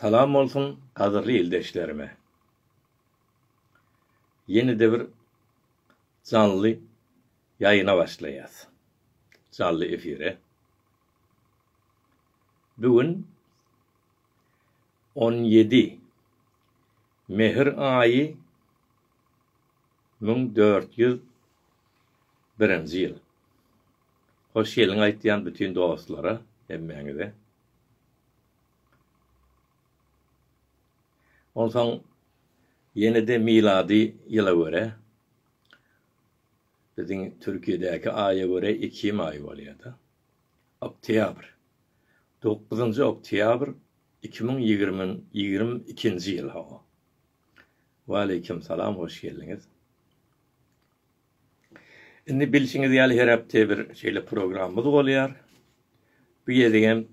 Salam bolsun gadyrly ildeşlerime. Ýene-de bir janly ýaýyna başlaýas. Janly efire. Bu gün on ýedi Mehr aýy Müň dört ýüz birinji ýyl. Hoş geldiň aýtýan bütin dostlara hemmäňize. Onsoň ýene-de milady ýyla görä, biziň Türkiýedäki aýa görä ekim aýy bolýar-da. Oktýabr. Dokuzynjy oktýabr iki müň ýigrimi ikinji ýyl, hawa. Waleýkim salam hoş geldiňiz. Indi bilşiňiz ýaly her hepde bir şeýle programmamyz bolýar. Bu gezegem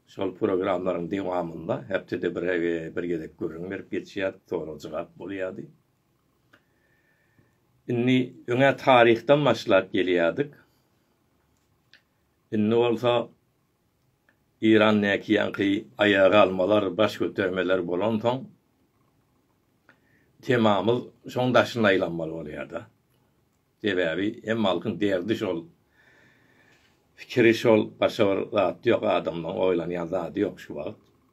şol programmalaryň dewamynda hepdede bir bir gezek gürrüň berip geçýär, sorag jogap bolýardy. Indi öňe taryhdan başlap gelýärdik. Indi bolsa Eýran näkiýanky aýaga almalar, baş götermeler bolansoň, temamyz şoň daşyna aýlanmaly bolýar-da. Sebäbi hemme halkyň derdi şol, pikiri şol, başga bir zat ýok, adamlaryň oýlanýan zady ýok şu wagt.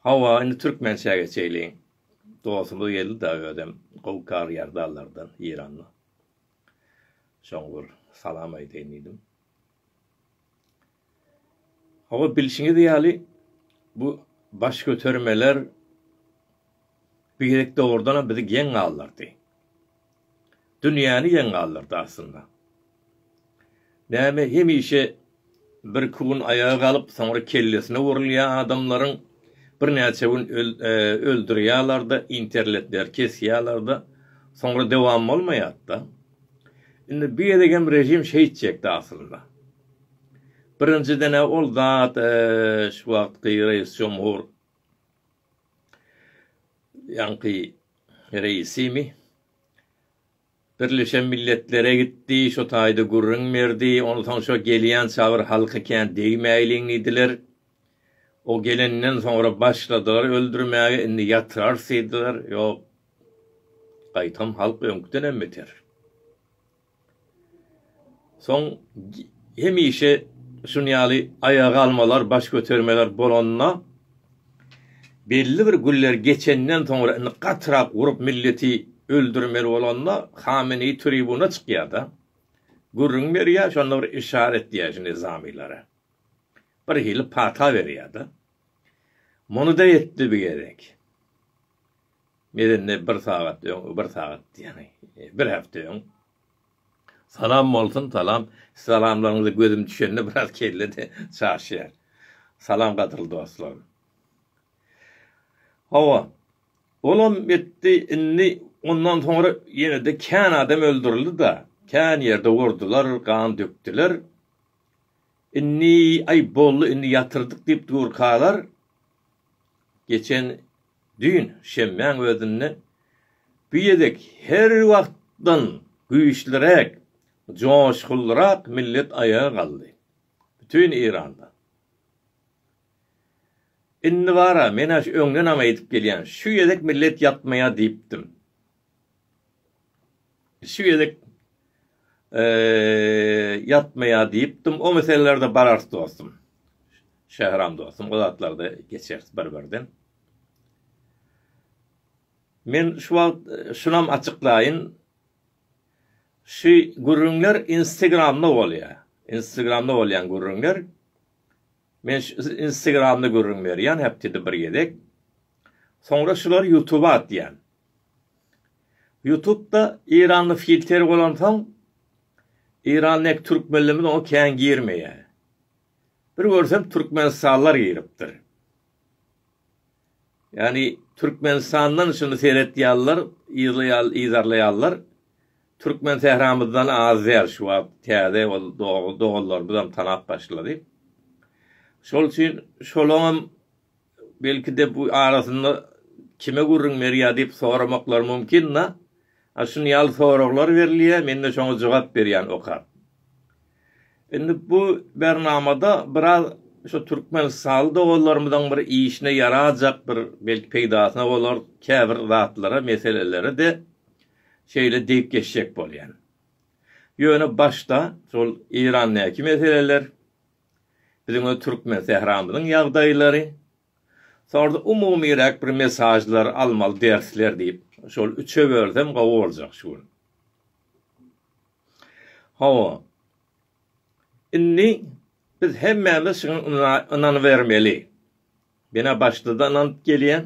Hawa, indi türkmençä geçeýliň. Dostumyz geldi-da özem gowy karyýar dallardan, Eýranly. Şoňa bir salam aýdaýyn diýdim. Hawa, bilşiňiz ýaly, bu baş götermeler bir gezek dogrudanam bizi geň galdyrdy. dünýäni geň galdyrdy aslynda. Näme hemişe birki gün aýaga galyp soňra kellesine urulýa adamlaryň birnäçe gün öldürýalarda interletleri kesýalarda soňra dowam bolmaýatda. Indi bu gezegem režim şeýtjekdi aslynda. Birinjidene ol zat şu wagtky reis jomhur Ýaňky reisimi Birleşen Milletlere gitdi, şo taýda gürrüň berdi, onsoň şo gelýän çabyr halky kän degmäýliň diýdiler. O gelenden soňra başladylar öldürmäge, indi ýatyrarys diýdiler. Ýok, gaýtam halk öňküdenem beter. Soň hemişe şuny ýaly aýagalmalar, baş götermeler bolanda, belli bir günler geçenden soňra, indi gatyrak urup milleti öldürmeli bolanda, Hameneý tribuna çykýar-da, gürrüň berýär, şonda bir işaret etýär şu nyzamylary. Birhili pata berýär-de. Muny-da etdi bu gezek. Medeni bir sagat öň bir sagat diýýäňi bir hepde öň. Salam bolsun salam salamlaryňyza gözüm düşende biraz kelle de çaşýar. Salam gadyrly dostlarym. Hawa. Olam etdi indi ondan soňra ýenede kän adam öldürildi da kän ýerde urdular gan dökdüler. Indi aý boldy indi ýatyrdyk diýip durkalar geçen Düýn, şenbäň özünde bu gezek her wagtdan güýçliräk, joşgunlyrak millet aýaga galdy. Bütin Eýranda. Indi bar-a, men-ä öňdenem aýdyp gelýän, şu gezek millet ýatmaýar diýipdim. Şu gezek ýatmaýar diýipdim. O meselelerde bararys dostum. Şähram dostum, o zatlarda geçeris bir-birden. Men şu wagt şunam açyklaýyn. Şu gürrüňler Instagramda bolýar. Instagramda bolýan gürrüňler. Men şu instagramda gürrüň berýän hepdede bir gezek. Soňra şulary ýutuba atýan. Ýutubda Eýranly filter bolansoň Eýrandaky türkmenlerimiz oňa kän girmeýär. Bir görsem türkmenistanlylar giripdir. Ýagny Türkmenistandan şuny seretýärler, yzarlaýarlar. Türkmen sähramyzdan az däl şu wagt, täze ol doganlarymyzam tanap başlady. Şol üçin şolaňam belki-de bu arasynda kime gürrüň berýär diýip soramaklary mümkin-de. Şuny ýaly soraglar berilýär, men-de şoňa jogap berýän okap. Indi bu bernamada biraz şu türkmenistanly doganlarymyzyň bir işine ýarajak bir belki peýdasyna bolar käbir zatlara, meselelere-de şeýle degip geçjek bolýan. Ýöne başda şol Eýrandäki meseleler, biziň öz türkmen sähramyzyň ýagdaýlary, sonra-da umumyrak bir mesažlar, almaly dersler diýip, şol üçe bölsem gowy boljak şu gün. Hawa, indi biz hemmämiz şuňa ynanybermeli. Menä başda-da ynanyp gelýän.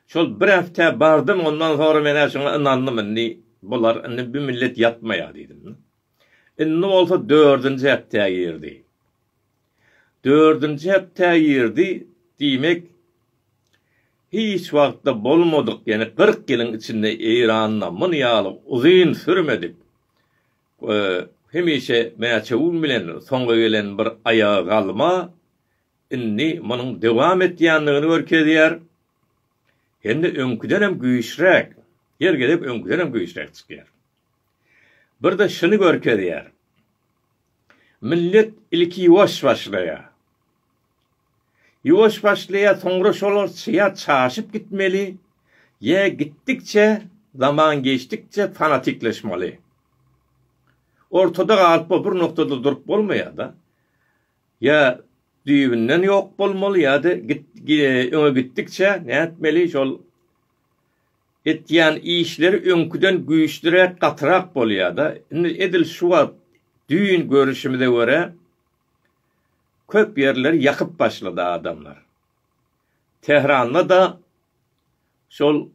Şol bir hepdä bardym, ondan soňra menä şuňa ynandym, indi bular, indi bu millet ýatmaýar diýdim. Indi bolsa dördünji hepdä girdi. Dördünji hepdä girdi, diýmek, hiç wagtda bolmadyk, ýene kyrk ýylyň içinde Eýranda muny ýaly uzyn sürmedik, hemişe mäçewüň bilen soňa gelen bir aýagagalma indi munuň dowam etýändigini görkezýär. Hem-de öňküden hem güýçräk, her gezek öňküden hem güýçräk çykýar. Bir-de şuny görkezýär. Millet ilki ýuwaş başlaýar. Ýuwaş başlaýar, soňra şolar ýa çaşyp gitmeli, ýa gitdikçe, zaman geçdikçe fanatikleşmeli. Ortada galyp bol, bir noktada durup bolmaýar-da. Ýa düýbünden ýok bolmaly, ýa-da öňe gitdikçe nätmeli, şol Etýän işleri öňküden güýçliräk gatyrak bolýada indi edil şu wagt düýn görüşimize görä köp ýerleri ýakyp başlady adamlar. Tehranda da şol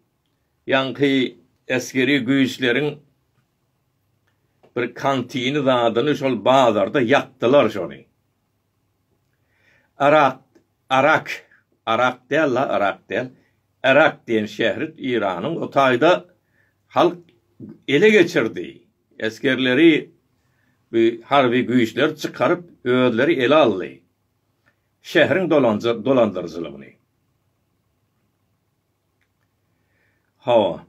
ýaňky esgeri güýçleriň bir kantini zadyny şol bazarda ýakdylar şony. Arak, Arak, Arak däl-la, Yrak däl, Yrak diýen şähri Iranyň o taýda halk ele geçirdi. Esgerleri bu harby güýçler çykaryp, özleri ele aldy şähriň dolandyryjylygyny. Hawa.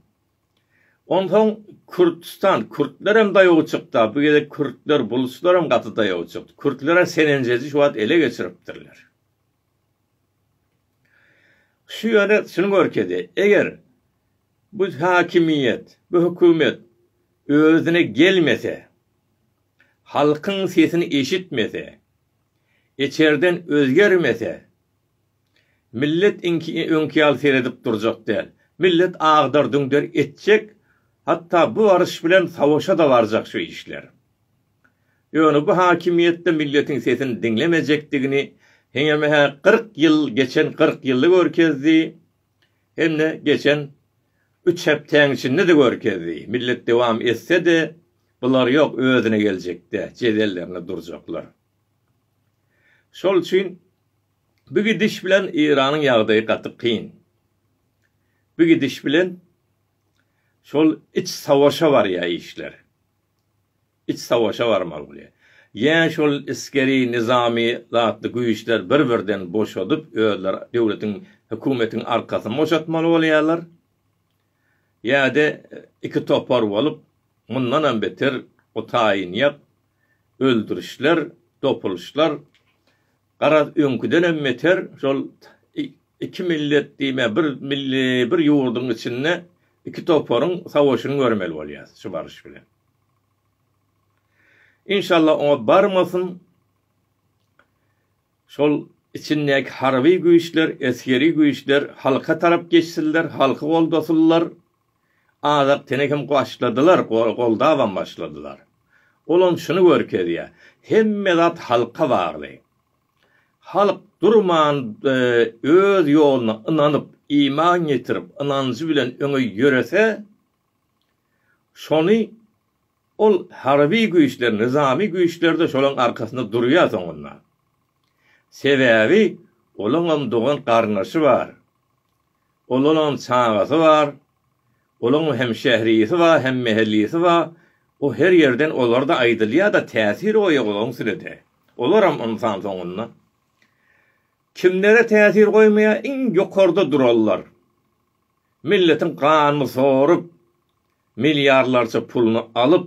Onsoň Kürtistan, kürtlerem daýaw çykda, bu gezek kürtler, bulçlaram gaty daýaw çykdy. Kürtler-ä Senenjedi şu wagt ele geçiripdirler. Şu ýöne şuny görkezýär, eger bu häkimiýet, bu hökümet özüne gelmese, halkyň sesini eşitmese, içerden özgermese, Millet iňki öňki ýaly seredip durjak däl. Millet agdar-düňder etjek, hatda bu baryş bilen savaşa-da barjak şu işler. Ýöne bu hakimiýetde milletiň sesini diňlemejekdigini heňem-hä kyrk ýyl geçen kyrk ýylda görkezdi, hem-de geçen üç hepdäň içinde-de görkezdi. Millet dowam etse-de, bular ýok, özüne geljekde jedellerinde durjaklar. Şol üçin Bu gidiş bilen Eýranyň ýagdaýy gaty kyn. Bu gidiş bilen şol iç savaşa barýar işler. Iç savaşa barmaly bolýar. Ýa şol esgeri, nyzamy zatly güýçler bir-birden boşadyp, özleri döwletiň, hökümetiň arkasyny boşatmaly bolýarlar. Ýa-da iki topar bolup, mundanam beter o taýynýak öldürişler, dopulyşlar Garaz, öňküdenem beter şol iki millet diýme, bir milli, bir ýurduň içinde iki toparyň savaşyny görmeli bolýas şu baryş bilen. Inşallah oňa barmasyn. Şol içindäki harby güýçler, esgeri güýçler halka tarap geçsinler, halky goldasynlar, Azak tene hem başladylar, goldabam başladylar. Olam şuny görkezýär. Hemme zat halka bagly. Halk durman öz ýoluna ynanyp, iman getirip, ynanjy bilen öňe ýörese, şony ol harby güýçler, nyzamy güýçler-de şolaň arkasynda durýar soňunda. Sebäbi olaňam dogan-garyndaşy bar. Olaram çagasy bar. Olaň hem şährisi bar, hem mähellisi bar. O her ýerden olarda aýdylýa-da täsir goýýa olaň üstüne-de. Olaram ynsan soňunda. Kimlere täsir goýmaýa iň ýokarda duranlar. Milletiň ganyny sorup, milliarlarça puluny alyp,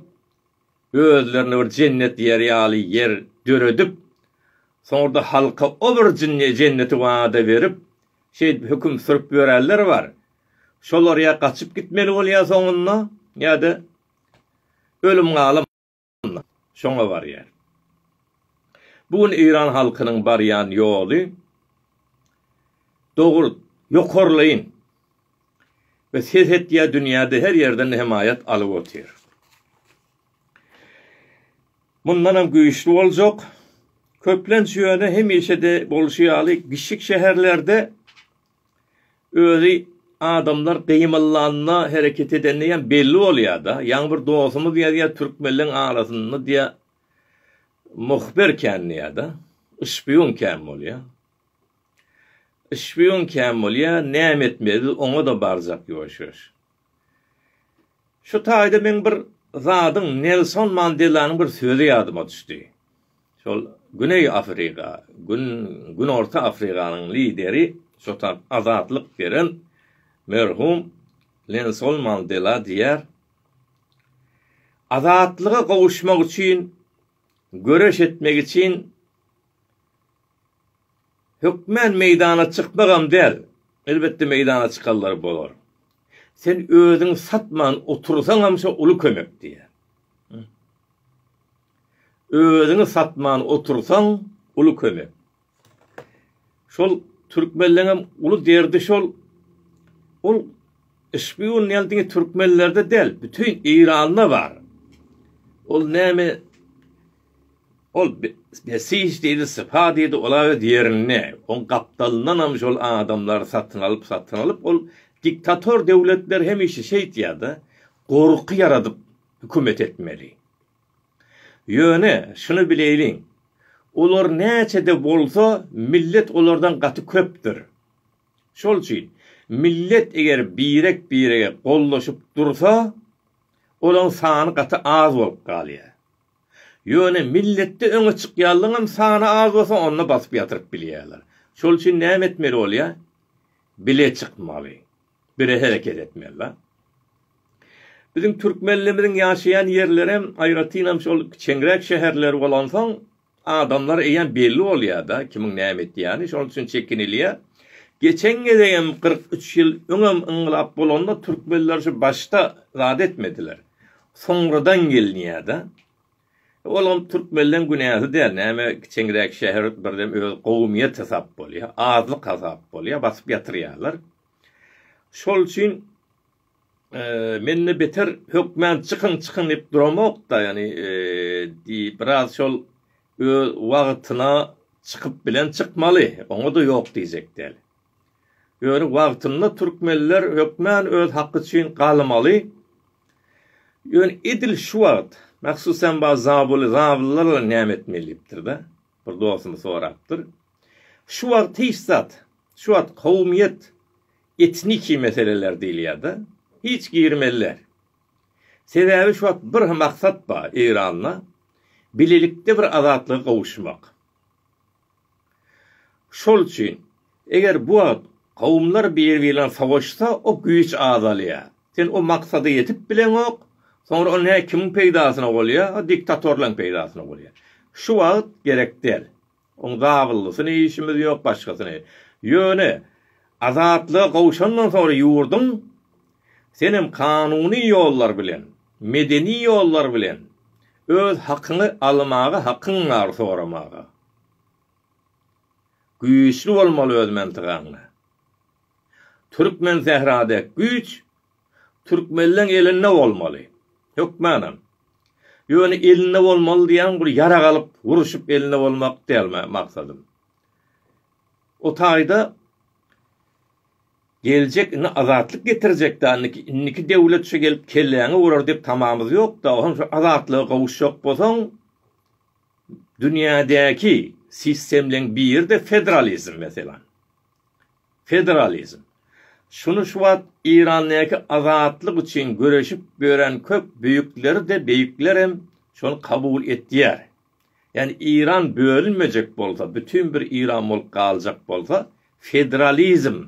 özlerine bir jennet ýeri ýaly ýer döredip, soňra-da halka o bir jenneti wada berip, şeýdip höküm sürüp ýörenler bar. Şolar ýa gaçyp gitmeli bolýar soňunda, ýa-da ölüm-galym şoňa barýar. Bu gün eýran halkynyň barýan ýoly dogry, ýokarlaýyn. we serhetýa dünýäde her ýerden hemaýat alyp otyr. Mundanam güýçli boljak, köplenç ýöne hemişede bolşy ýaly kiçijik şäherlerde özi adamlar gymyllanda hereket edende ýa belli bolýada, ýaňy bir dostumyz ýazýa türkmenleň arasynda diýa muhbir kän diýada, şpiýun kän bolýa. Şpion kän bolýa, näme etmeli biz oňada barjak ýoşuş. Şu taýda meň bir zadyň Nelson Mandelanyň bir sözi ýadyma düşdi. Şol Güneý Afriga, Gün Günorta Afriganyň lideri şotan azatlyk beren merhum Lenson Mandela diýer, Azatlyga gowuşmak üçin göreş etmek için Hökmän meýdana çykmagam däl. Elbetde meýdana çykanlar bolar. Sen özüňi satman otursaňam şo uly kömek diýýär. Özüňi satman otursaň uly kömek. Şol türkmenleňem uly derdi şol. Ol şpiun diýen diňe türkmenlerde däl, bütin Eýranda bar. Ol näme Ol besiş diýdi, sypa diýdi, ol-a öz ýerinde. Oň gapdalyndanam şol adamlary satyn alyp, satyn alyp, ol diktator döwletler hemişe şeýtýär-de, gorky ýaradyp hökümet etmeli. Ýöne, şuny bileýliň, olar näçe-de bolsa, millet olardan gaty köpdür. Şol üçin, millet eger birek-birege gollaşyp dursa, olaň sany gaty az bolup galýar. Ýöne milletde öňe çykýanlaryňam sany az bolsa onda basyp ýatyryp bilýärler. Şol üçin näme etmeli bolýar? Bile çykmaly. Bile hereket etmeli la. Biziň türkmenlerimiziň ýaşaýan ýerlerem aýratynam şol kiçeňräk şäherler bolansoň adamlar eýýäm belli bolýar da kimiň näme etýäni şol üçin çekinilýär. Geçen gezegem kyrk üç ýyl öňem yňgylap bolanda türkmenler şu başda zat etmediler. Soňradan gelinýär-de. Olam türkmenleň günäsi däl, näme kiçeňräk şäher birdem öz gowumýet hasap bolýar, azlyk hasap bolýar, basyp ýatyrýarlar. Şol üçin men-de beter hökmän çykyň, çykyň diýip duramok-da, ýagny biraz şol öz wagtyna çykyp bilen çykmaly, oňa-da ýok diýjek däl. Ýöne wagtynda türkmenler hökmän öz haky üçin galmaly. Ýöne edil şu wagt, mahsusem bar zabuly zabyllar bilen näme etmeli diýipdir-de, bir dostumyz sorapdyr. Şu wagt hiç zat, şu wagt kowumyýet, etniki meseleler diýilýär-de, hiç girmeliler. Sebäbi şu wagt bir maksat bar Eýranda, bilelikde bir azatlyga gowuşmak. Şol üçin, eger bu wagt kowumlar biri-birlen sowaşsa, o güýç azalýar. Sen o maksada ýetip bileňok, soňra o nä kimiň peýdasyna bolýar? O diktatorlaryň peýdasyna bolýar. Şu wagt gerek däl. Oň zabyllysyny işimiz ýok, başgasyny. Ýöne Azatlyga gowşandan soňra ýurduň Senem kanuny ýollar bilen, medeni ýollar bilen öz hakyňy almaga hakyň bar soramaga. Güýçli bolmaly öz mentygaňda. Türkmen sähra dek güýç türkmenleň elinde bolmaly. Hökmanam. Ýöne elinde bolmaly diýen bir ýarag alyp uruşyp elinde bolmak däl maksadym. O taýda Geljek indi azatlyk getirjekdä indiki indiki döwlet şu gelip kelläňi urar diýip tamamyz ýokda oňem şu azatlyga gowuşjak bolsaň dünýädäki sistemleň biride federalizm meselan federalizm şuny şu wagt Irandäki azatlyk üçin göreşip ýören köp büýükleri de beýiklerem şony kabul etýär Ýagny Iran bölünmejek bolsa, bütin bir Iran bolup galjak bolsa, federalizm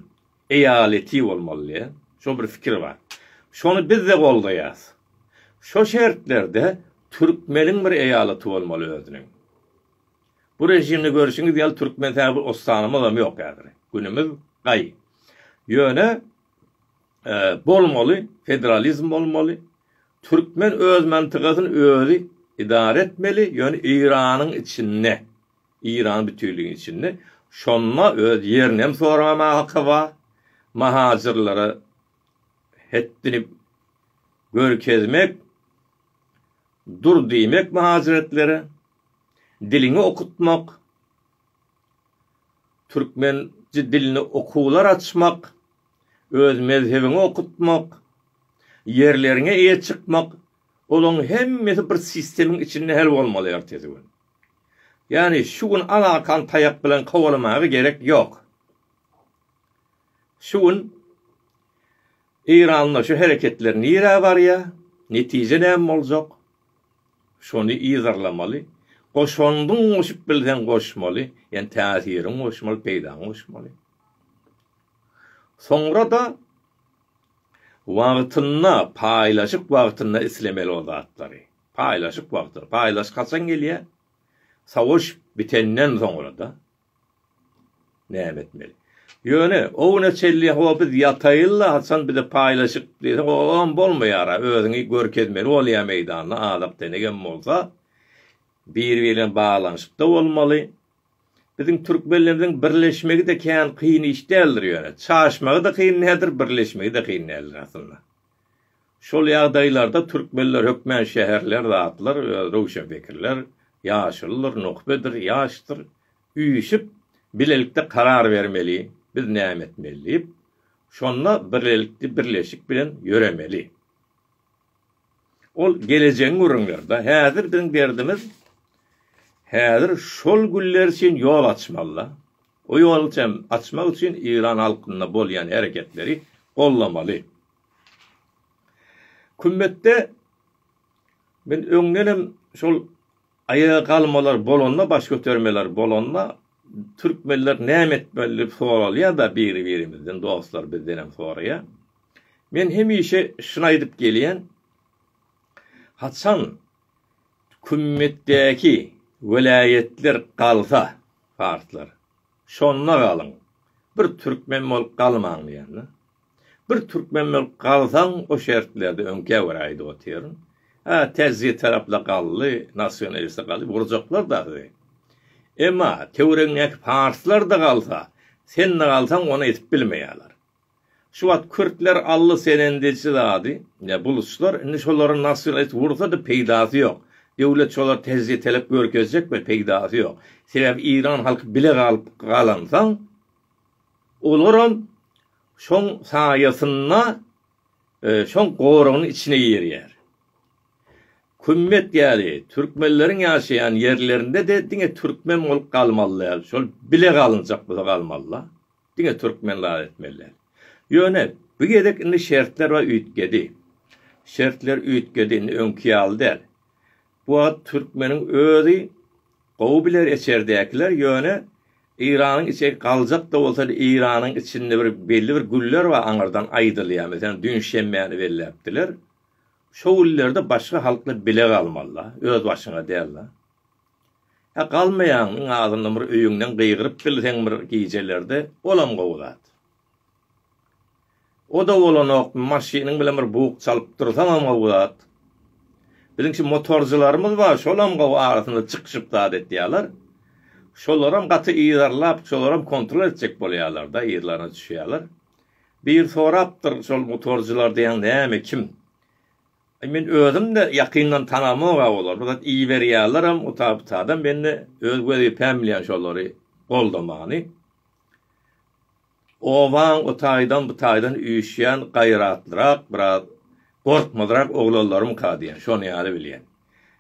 eýaleti bolmaly. Şo bir fikir bar. Şony biz-de goldaýas. Şo şertlerde türkmeniň bir eýalaty bolmaly özüniň. Bu režimde görşüňiz ýaly türkmen täze bir ostanamyzam ýok häzir. Günümiz gaý. Ýöne Bolmaly, federalizm bolmaly. Türkmen öz mantygasyny özi idara etmeli, ýöne Eýranyň içinde, Eýran bütünligiň içinde. Şonda öz ýerini hem soramaga haky bar. Mahajyrlara hetdini görkezmek, dur diýmek mahajretlere, diliňi okutmak, türkmençe dilini okuwlar açmak. Öz mezhebiňi okutmak, ýerleriňe eýe çykmak, olaň hemmesi bir sistemiň içinde hel bolmaly ertesi gün. Ýani şu gün al arkan taýak bilen kowalamaga gerek ýok. Şu gün Eýranda şu hereketler nirä barýa, netije näme boljak? Şony yzarlamaly, goşandyň goşup bilseň goşmaly, ýani täsiriň goşmaly, peýdaň goşmaly. Soňra-da wagtynda, paýlaşyk wagtynda islemeli o zatlary. Paýlaşyk wagty. Paýlaşyk haçan gelýär? Savaş bitenden soňra-da. Näme etmeli? Ýöne, o güne çenli ho biz ýataýyl-la, haçan bize paýlaşyk diýseň, o-oam bolmaýar-a, özüňi görkezmeli bolýar meýdanda, azak-denek hem bolsa, biri-biri bilen baglanyşykda bolmaly. Biziň türkmenlerimiziň birleşmegi-de kän kyn iş däldir ýöne, çaşmagy-da kyn däldir, birleşmegi-de kyn däldir aslynda. Şol ýagdaýlarda türkmenler hökmän şäherler zatlar, öz röwşenpikirler, ýaşuludyr, nuhbedir, ýaşdyr, üýşüp, bilelikde karar bermeli, biz näme etmeli diýip, şonda birlelikde, birleşik bilen ýöremeli. Ol gelejegiň gürrüňleri-da. Häzir biziň derdimiz häzir şol günler üçin ýol açmaly-da. O ýoly üçin açmak üçin Eýran halkynda bolýan hereketleri gollamaly. Kümmetde men öňdenem şol Aýaga galmalar bolanda, baş götermeler bolanda türkmenler näme etmeli diýip soralýar-da biri-birimizden, dostlar bizdenem soraýar. Men hemişe şuny aýdyp gelýän, haçan kümmetdäki welaýatlar galsa, farslar, şonda galyň, bir türkmen bolup galmaň diýen-de. Bir türkmen bolup galsaň o şertlerde öňkä görä aýdyp otyryn. Hä tezzi tarapla galdy, nasionaliste galdy urjaklar-da sizi. Emma töweregiňdäki parslar-da galsa, sen-de galsaň ony edip bilmeýärler. Şu wagt kürtler aldy senendeji zady, ýa buluçlar, indi şolary nasionalist ursa-da peýdasy ýok. Döwlet şolary tezzi telep görkezjek we peýdasy ýok. Sebäbi iran halky bile galyp galansoň olaram Şoň saýasynda şoň goragyň içine girýär. Kümmet ýaly türkmenleriň ýaşaýan ýerlerinde-de diňe türkmen bolup galmaly däl, şol bile galynjak bolsa galmaly-da, diňe türkmen zat etmeli däl. Ýöne bu gezek indi şertler-ä üýtgedi. Şertler üýtgedi, indi öňki ýaly däl. Bu wagt türkmeniň özi gowy biler eçerdäkiler ýöne Eýranyň içi galjak da bolsa Eýranyň içinde bir belli bir günler bar aňyrdan aýdylýar meselem düýn şemmäni belläpdiler şo günlerde başga halklar bile galmalyda öz başyňa dälda hä galmaýaň iň azyndan bir öýüňden gygyryp bilseň bir gijelerde olam gowy zat. O-da bolanok, maşynyň bilen bir bug çalypdyrsaňam gowy zat. Biziň şu motorcylarymyz bar, şolam gowy arasynda çykyşyp zat etýäler. Şolaram gaty yzarlap, şolaram kontrol etjek bolýalar-da, yzlaryna düşýäler. Biri sorapdyr, şol motorcylar diýen näme, kim? Aý, men özüm-de ýakyndan tanamok-a olary, bir zat iberýälerem, utabytadam, men-de öz wezipäm bilýän şolary goldamany. Obaň o taýdan, bu taýdan üýşýän gaýratlyrak, biraz gorkmazrak oglanlarymyka diýen, şony ýaly bilýän.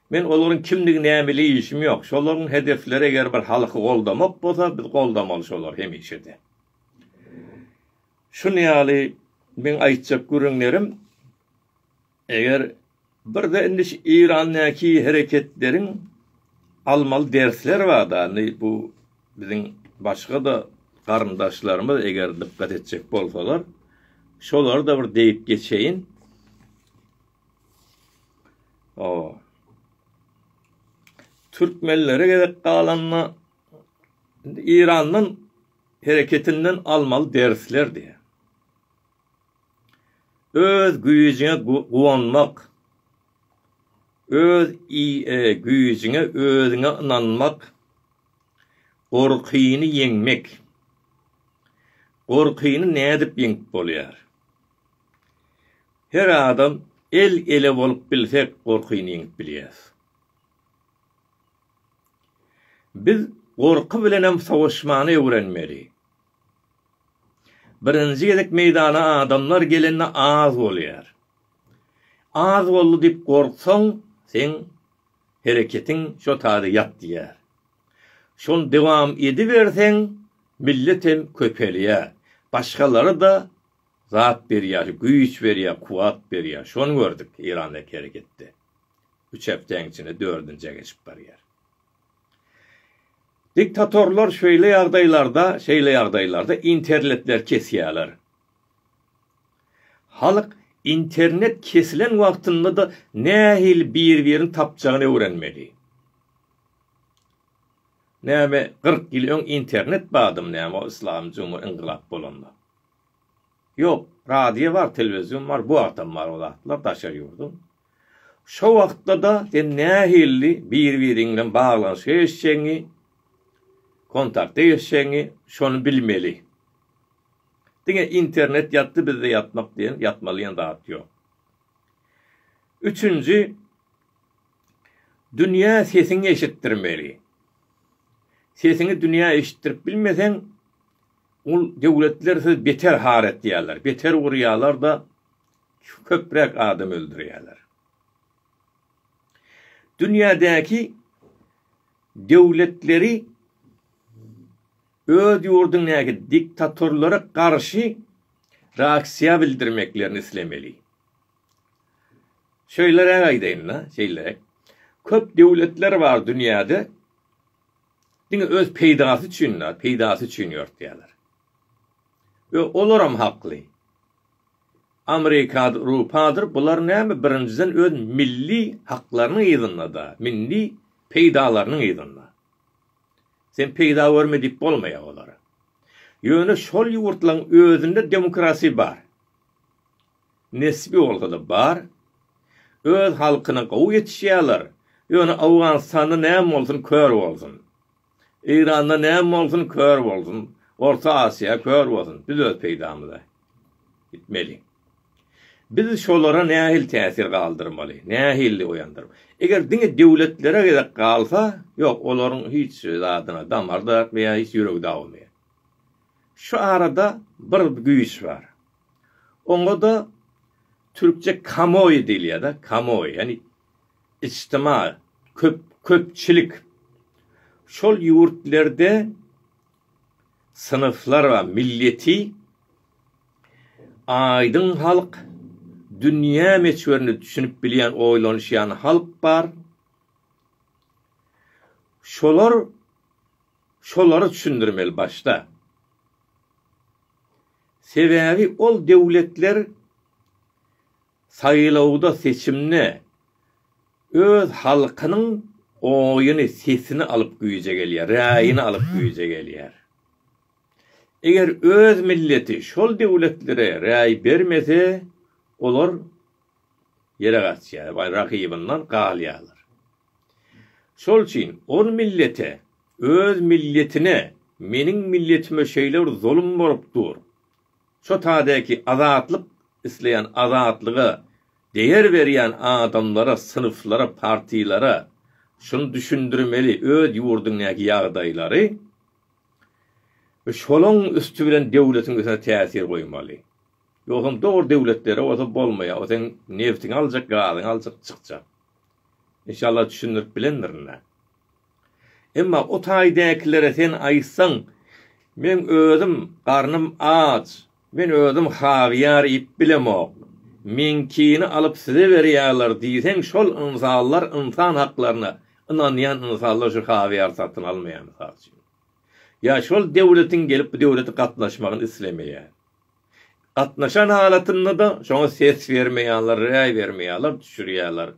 Men olaryň kimdigi nämeli işim ýok. Şolaryň hedefleri eger bir halky goldamak bolsa, biz goldamaly şolary hemişe-de. Şuny ýaly meň aýtjak gürrüňlerim. Eger birde indi şu Irandäki hereketleriň almaly dersleri barda indi bu biziň başga-da garyndaşlarymyz eger dykgat etjek bolsalar şolary-da bir diýip geçeýin. O. Türkmenlere gerek galanda Irandan hereketinden almaly dersler diýär. Öz güýjüňe guwanmak, öz güýjüňe özüňe ynanmak, gorkyny ýeňmek. Gorkyny nädip ýeňip bolýar? Her adam el-ele bolup bilsek gorkyny ýeňip bilýäs. Biz gorky bilenem sowaşmany öwrenmeli. Birinji gezek meýdana adamlar gelende az bolýar. Az boldy diýip gorksaň, seň hereketiň şo taýda ýatýar. Şony dowam ediberseň, millet hem köpelýär. Başgalara-da zat berýär, güýç berýär, kuwwat berýär. Şony gördük Eýrandaky hereketde. Üç hepdäň içinde dördünjä geçip barýar. Diktatorlar şeýle ýagdaýlarda, şeýle ýagdaýlarda interletleri kesýärler. Halk internet kesilen wagtynda-da nähili bir-birini tapjagyny öwrenmeli. Näme, kyrk ýyl öň internet bardymy näme o yslamy cumhur yngylap bolanda? Ýok, radio bar, telewizion bar, bu wagtam bar o zatlar daşary ýurduň. Şo wagtda-da sen nähilli bir-biriň bilen baglanyşa geçjegiňi, kontakta geçjegiňi şony bilmeli. Diňe internet ýatdy bizde ýatmak diýen, ýatmaly diýen zat ýok. Üçünji, dünýä sesiňi eşitdirmeli. Sesiňi dünýä eşitdirip bilmeseň, ol döwletler sizi beter har etýärler, beter urýarlar-da, Şu köpräk adam öldürýärler. Dünýädäki döwletleri öz ýurduňdaky diktatorlara garşy reaksiýa bildirmeklerini islemeli. Şeýleräk aýdaýyn-da, şeýleräk. Köp döwletler bar dünýäde diňe öz peýdasy üçin, peýdasy üçin ýörtýärler. Ýok, olar hem hakly. Amerikadyr, Ewropadyr bular näme birinjiden öz milli haklarynyň yzynda-da, milli peýdalarynyň yzynda. Sen peýda görme diýip bolmaýar olara. Ýöne şol ýurtlaryň özünde demokrasiýa bar. Nesbi bolsa-da bar. Öz halkyna gowy ýetişýärler. Ýöne Owganystanda näme bolsun kör bolsun. Eýranda näme bolsun kör bolsun orta Asiýa kör bolsun biz öz peýdamyza gitmeli. Biz şolara nähili täsir galdyrmaly, nähili oýandyr. Eger diňe döwletlere gezek galsa ýok olaryň hiç zadyna damar da ýa hiç ýüregi dawamaýar. Şu arada bir güýç bar. Oňa da türkçe kamoýi diýilýär da kamoýi ýani Ijtima, köp, köpçülik. Şol ýurtlerde synflar ba, milleti aýdyň halk, dünýä meçwerine düşünip bilýän, oýlanyşýan halk bar. Şolar şolary düşündirmeli başda. Sebäbi ol döwletler Saýlawda seçimde öz halkynyň oýuny sesini alyp güýje gelýär, raýyny alyp güýje gelýär. Eger öz milleti şol döwletlere raý bermese olar ýere gaçýar we rakybyndan galýarlar. Şol üçin ol millete öz milletine meniň milletime şeýle bir zulum bolup dur, Şo tadäki azatlyk isleýän azatlyga deýer berýän adamlara synflara partilara şuny düşündirmeli öz ýurdyňdäki ýagdaýlary we şolaň üsti bilen döwletiň üstüne täsir goýmaly ýogsam dogry döwletlere bolsa bolmaýar o seň nebtiňi aljak gazyňy aljak çykjak inşallah düşündirip bilendirin-dä Emma o taýdäkilere sen aýtsaň, Meň özüm garnym aç, men özüm hawyýar iýip bilemok. Meňkini alyp size berýärler diýseň, şol ynsanlar ynsan haklaryna ynanýan ynsanlar şu hawyýary satyn almaýar mysal üçin. Ýa şol döwletiň gelip bu döwlete gatnaşmagyny islemeýär. Gatnaşan halatynda-da şoňa ses bermeýärler, raý bermeýärler, düşürýärler.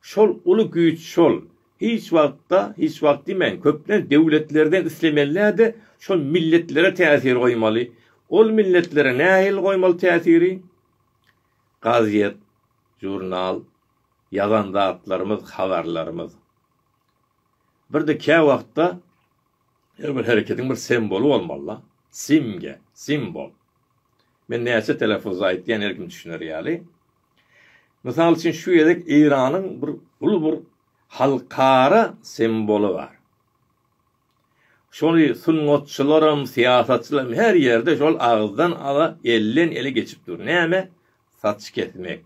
Şol uly güýç şol. Hiç wagtda, hiç wagt diýmäýin, köplenç döwletlerden islemeli-de şol milletlere täsir goýmaly. Ol milletlere nähili goýmaly täsiri? Gazet, žurnal, ýazan zatlarymyz, habarlarymyz. Bir-de käwagtda Her bir hereketiň bir semboly bolmaly-da. Simge, simbol. Men näçe telefuzda aýtýan her kim düşüner ýaly. Mysal üçin şu gezek Eýranyň bir uly bir halkara semboly bar. Şony sungatçylaram, syýasatçylaram her ýerde şol agyzdan aza, elden ele geçip dur. Näme? Saç kesmek.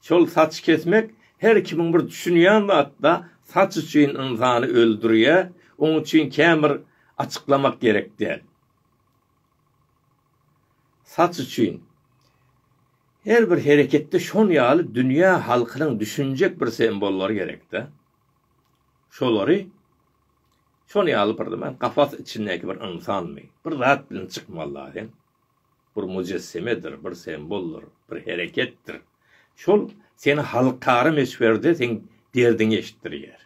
Şol saç kesmek her kimiň bir düşünýän zatda saç üçin ynsany öldürýä, oň üçin känbir açyklamak gerek däl. Saç üçin her bir hereketde şon ýaly dünýä halkynyň düşünjek bir sembollary gerekdä. Şolary şon ýaly bir men kafas içindäki bir ynsanmy, bir zat bilen çykmaly daýy. bir mujessemedir, bir semboldyr, bir hereketdir. Şol seni halkara möçberde seň derdiňi eşitdirýär.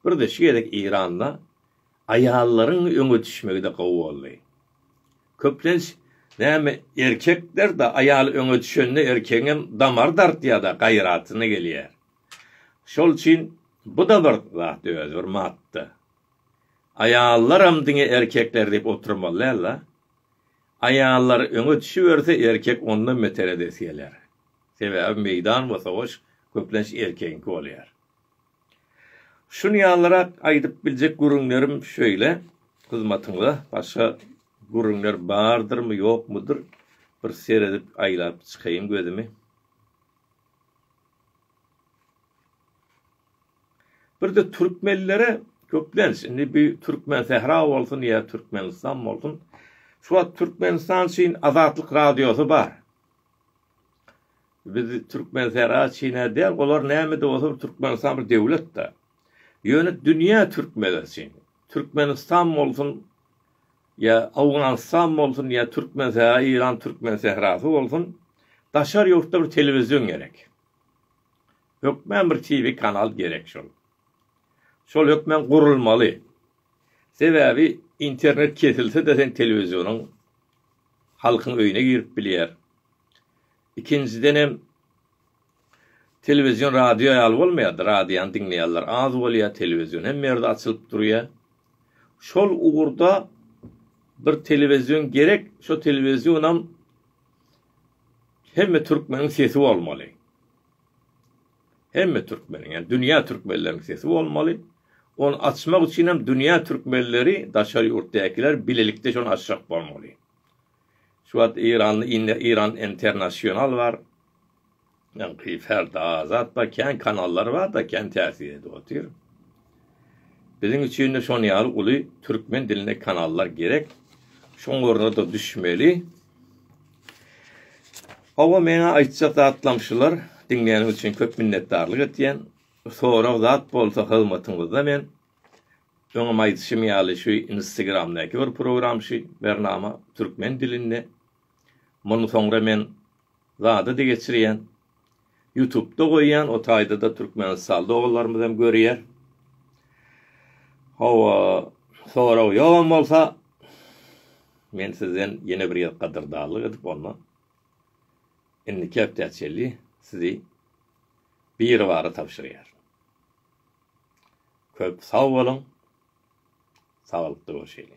Bir-de şu gezek Eýranda aýallaryň öňe düşmegi-de gowy boldy. Köplenç näme erkekler-de aýal öňe düşende erkegiňem damary dartýar-da, gaýratyna gelýär. Şol üçin bu-da bir zat özi, bir madda. Aýallaram diňe erkekler diýip oturmaly däl-la. Aýallar öňe düşüberse erkek ondan beter edesi geler. Sebäbi meýdan we sowaş köplenç erkegiňki bolýar. Şun ýalyrak aýdyp biljek gürrüňlerim şöýle. Hyzmatyňda başga gürrüňler bardyrmy, ýokmudyr? Bir seredip aýlap çykaýyn gözümi. Birde türkmenlere köplenç, indi bu Türkmensähra bolsun ýa Türkmenistan bolsun, şu wagt Türkmenistan üçin Azatlyk Radiosy bar. Biz Türkmensähra üçin-ä däl, olar näme-de bolsa bir Türkmenistan bir döwlet-de. Ýöne dünýä türkmenleri üçin, Türkmenistan bolsun ýa Owganystan bolsun ýa Türkmensähra, Eýran Türkmensährasy bolsun, daşary ýurtda bir telewizion gerek. Hökman bir TV kanal gerek şol. Şol hökman gurulmaly. Sebäbi internet kesilse-de sen telewizionyň halkyň öýüne girip bilýär. Ikinjidenem telewizion radio ýaly bolmaýar-da, radiony diňleýänler az bolýar, telewizion hemme ýerde açylyp durýar. Şol ugurda bir telewizion gerek, şo telewizionam hemme türkmeniň sesi bolmaly. Hemme türkmeniň, ýagny dünýä türkmenleriniň sesi bolmaly. Ony açmak üçin hem dünýä türkmenleri, daşary ýurtdakylar bilelikde şony açjak bolmaly. Şu wagt Eýranda indi Eýran International bar. Ýaňky Ferda Azat bar, kän kanallar bar-da, kän täsir edip otyr. Biziň üçin-de şonuň ýaly uly türkmen dilinde kanallar gerek. Şoň ornuna-da düşmeli. Hawa meňa aýtjak zatlam şular, diňleýäniň üçin köp minnetdarlyk etýän. Sorag zat bolsa hyzmatyňyzda men. Öňem aýdyşym ýaly şu instegramdaky bir program şu bernama türkmen dilinde. Muny soňra men zada-da geçirýän. Ýutubda goýýan o taýdada türkmenistanly doganlarymyz hem görýär. Hawa, sorag ýogam bolsa men sizden ýene bir ýer gadyrdarlyk edip onda indiki hepdä çenli sizi biribara tabşyrýar. Köp sag boluň. Saglykda görşeýli.